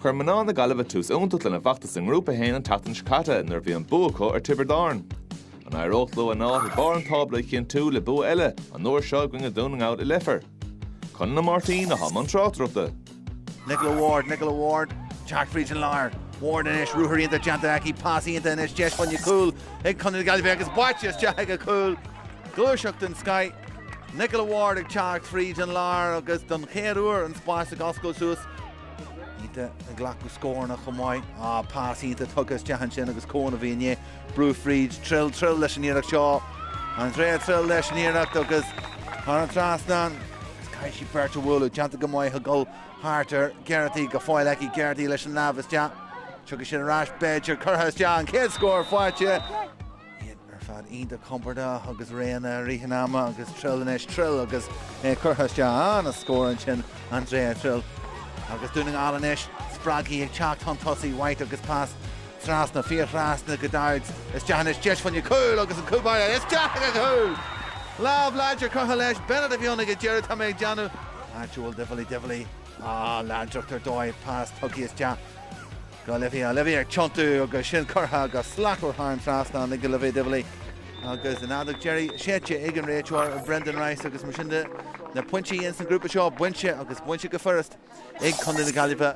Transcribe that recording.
Chuir mná na Gaillimhe tús iontach lena bhfeachtas i nGrúpa 1 an tseachtain seo caite nuair a bhí an bua acu ar Tiobraid Árann. An éireoidh leo a n-áit ag barr an tábla a chinntiú le bua eile, an uair seo i gcoinne Dhún na nGall i Leifear? Conall Ó Máirtín, atá i mbun tráchtaireachta. Nicola Ward, Nicola Ward ag teacht fríd an lár. Ward anois, ruathar iontach déanta aici, pas iontach anois, deis fá choinne cúl ag Contae na Gaillimhe agus báite isteach ag a cúl. Gluaiseacht den scoith. Nicola Ward ag teacht fríd an lár agus don chéad uair an spás ag oscailt suas. Iontach ag glacadh scóranna chomh maith. Á, pas iontach tugtha isteach ansin agus Coen a bhí ann. Brú fríd, Trill, Trill leis an iarracht seo. Andrea Trill leis an iarracht agus thar an trasnán. Caithfidh sí beirt a bhualadh. Déanta go maith a dhul thart ar Geraghty. Go fóill aici Geraghty leis an lámh isteach. Tiocfaidh sin ar ais b'fhéidir. Curtha isteach, an chéad scór faighte. Iad ar fad iontach compordach agus réidh i rith an ama agus Trill anois, Trill agus é curtha isteach, an-scór ansin Andrea Trill agus Dún na nGall anois, spreagthaí ag teacht chun tosaigh, White agus pas trasna, fiarthrasna go Dowds, isteach anois, deis fá choinne cúl agus an cúl báire isteach ag an gcúl! Lámh láidir curtha leis, Bennett a bhí ann ag an deireadh, tá mé ag déanamh, áitiúil Divilly, Divilly, á, láidreacht ar dóigh, pas tugtha isteach, Go hOlivia, Olivia ag tiontú agus sin curtha go slachtmhar thar an trasnán ag Olivia Divilly agus an fheadóg deiridh séidte ag an réiteoir Brendan Rice agus mar sin de na pointí ins an grúpa seo bainte agus bainte go furast ag Contae na Gaillimhe.